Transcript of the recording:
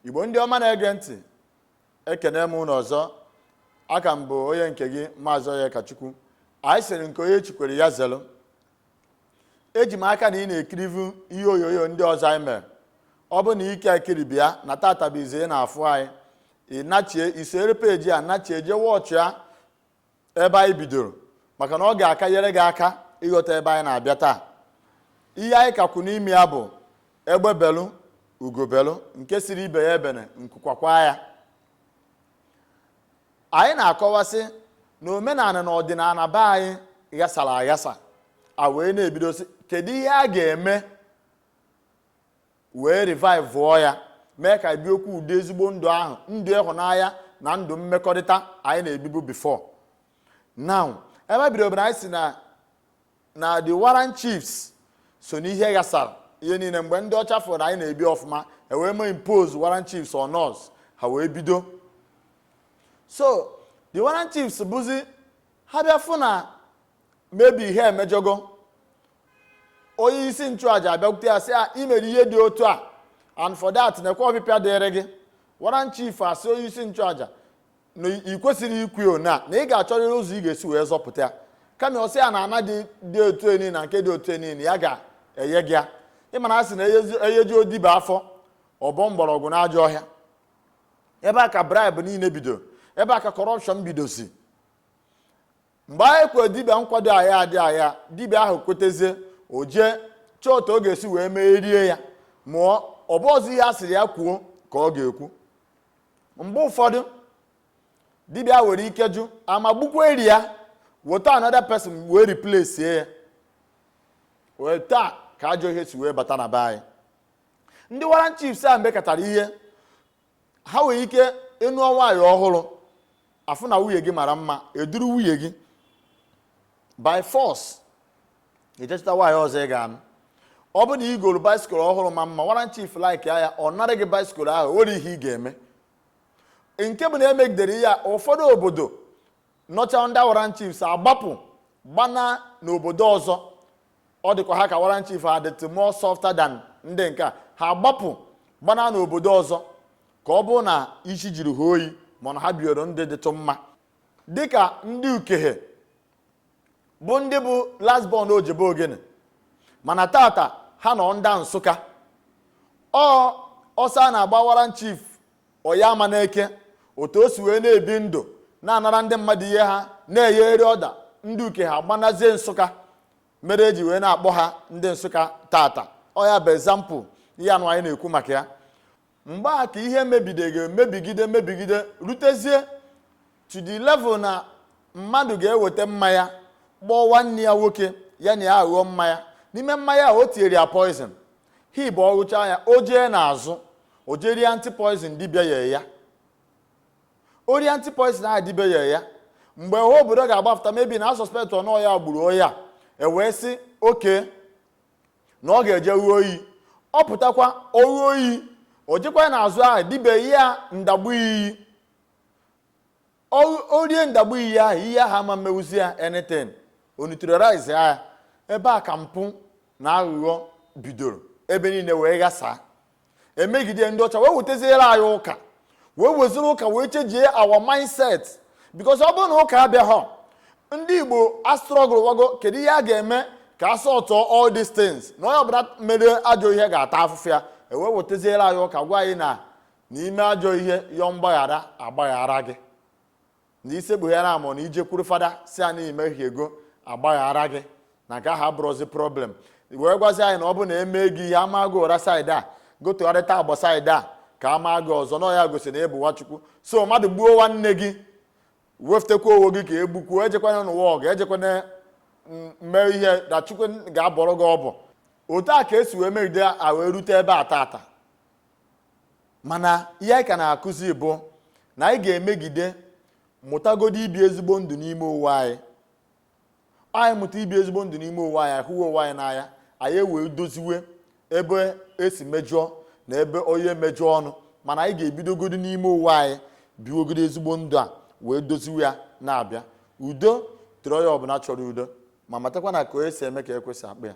igbo ndị ọma na-ege ntị ekene m ụnụ ọzọ aka m bụ onye nke gị maazị onyekachukwu anyị sịrị nke onye chikwere ya zelu eji m aka na ị na-ekirivu ihe onyonyo ndị ọzọ anyị mere ọ bụ na ike ekiri bịa na tata bụ ize na-afụ anyị ị nachie i sere peji a nachie jee wọchị ya ebe anyị bidoro maka na ọ ga-aka enyere gị aka ịghọta ebe anyị na-abịa taa ihe anyị ka kwụ n'ime ya bụ egbe belu ugo belu nke sịrị ibe ya ebene nku kwakwaa ya anyị na-akọwa sị na omenala na ọdịnala be anyị ghasara aghasa a wee na-ebido sị kedu ihe a ga-eme wee revive ya mee ka e biokwu ụdị ezigbo ndụ ahụ ndụ ịhụnanya na ndụ mmekọrịta anyị na-ebibu before now ebe bidoro bụ na anyị sị na the Warrant Chiefs so n'ihe ghasara ihe niile mgbe ndị ọcha fụrụ na anyị na-ebi ọfụma e wee mee impose Warrant Chiefs on us ha wee bido so the Warrant Chiefs bụzi ha bịa fụ na maybe ihe emejọgo onye isi nchụaja abịakwute ya sị ya i mere ihe dị otu a and for that nekwa ọpịpịa dịrị gị warrant chief asị onye isi nchụaja na ị kwesịrị ikwu na ị ga-achọrịrị ụzọ ị ga-esi wee zọpụta ya kama ọ sị ya na ana dị otu enyi na nke dị otu enyi ya ga-enye gị ya ị ma na a sị na e yejio dibịa afọ ọ bọọ mgbọrọgwụ na ajọ ọhịa ebe a ka bribe niile bido ebe a ka corruption bidozi mgbe ahụ e kwe dibịa nkwa dị agha dị agha dibịa ahụ kwetezie o jee chọọ otu ọ ga-esi wee mee rie ya ma ọ bụrọzi ihe a sịrị ya kwuo ka ọ ga-ekwu mgbe ụfọdụ dibịa nwere ike jụ ama gbukwa eri ya weta another person wee replace ya etu a ka ajọ ihe si wee bata na be anyị ndị warrant chiefs a mekatara ihe ha nwere ike ị nụọ nwaanyị ọhụrụ a fụ na nwunye gị mara mma e duru nwunye gị by force i jee chọta nwaanyị ọzọ ị ga-anụ ọ bụ na ị goro bicycle ọhụrụ ma mma warrant chief like ya ọ narị gị bicycle ahụ o nwere ihe ị ga-eme nke bụ na e megidere ya ụfọdụ obodo nọcha ndị warrant chiefs agbapụ gbana n'obodo ọzọ ọ dịkwa ha ka warrant chief ha dịtụ more softer than ndị nke a ha gbapụ gbana n'obodo ọzọ ka ọ bụ na isi jiri ha oyi mana ha bioro ndị dịtụ mma dịka ndị ukehe bụ ndị bụ last born ojebe ogene mana tata ha nọ ndị nsụka ọ ọsọ a na-agba warrant chief onyeama n'eke otu o si wee na-ebi ndụ na-anara ndị mmadụ ihe ha na-enyegharị order ndị ukehe agbanazie nsụka mere eji wee na-akpọ ha ndị nsụka tata ọ ya bụ example ihe anụ anyị na-ekwu maka ya mgbe a ka ihe mebigide mebigide mebigide rutezie to the level na mmadụ ga-eweta mmanya kpọọ nwanne ya nwoke ya na ya aṅụọ mmanya n'ime mmanya a o tinyere ya poison hi bụ ọ ṅụcha ya o jee n'azụ o jerie anti poison dibịa nyere ya o rie anti poison ahụ dibịa nyere ya mgbe ọha obodo ga-agbapụta maybe na-asuspect na ọ ya gburu onye a e wee sị okay na ọ ga-eje ṅụọ iyi ọ pụtakwa ọ ṅụọ iyi o jekwa n'azụ ahụ dibịa enye ya ndagbu iyi o rie ndagbu iyi ahụ iyi ahụ ama emezi ya anything o neutralize ya ebe a ka mpụ na aghụghọ bidoro ebe niile wee ghasaa e megide ndị ọcha wee weteziere anyị ụka wee werezie ụka wee chenjie our mindset because ọ bụrụ na ụka abịaghọ ndị igbo astrugglewago kedu ihe a ga-eme ka a sọtụọ all these things na onye ọbụla mere ajọ ihe ga-ata afụfụ ya e wee weteziere anyị ụka gwa anyị na na i mee ajọ ihe yọọ mgbaghara a gbaghara gị na isekpughere amụ na i jekwuru fada sị ya na i mehiego a gbaghara gị na nke ahụ abụrụzi problem wee gwazi anyị na ọ bụ na e mee gị ihe a maa gị ụra side a gị tụgharịta agba side a ka a maa gị ọzọ na ya gosi na ị bụ nwa chukwu so mmadụ gbuo nwanne gị wefụtakwa onwe gị ka e gbukwuo ejekwana nụwa ọgụ ejekwana mee ihe na chukwu ga-abọrọ gị ọbọ otu a ka e si wee megide a wee rute ebe a tata mana ihe anyị ka na-akụzi bụ na anyị ga-emegide mụtagodo ibi ezigbo ndụ n'ime onwe anyị anyị mụta ibi ezigbo ndụ n'ime onwe anyị ahụwa onwe anyị n'anya anyị ewee doziwe ebe e si mejọọ na ebe onye mejọọ ọnụ mana anyị ga-ebidogodo n'ime onwe anyị biwogodo ezigbo ndụ a wee doziwe ya na-abịa udo dịrị onye ọbụla chọrọ udo ma matakwa na ka onye si eme ka ekwe si akpọ ya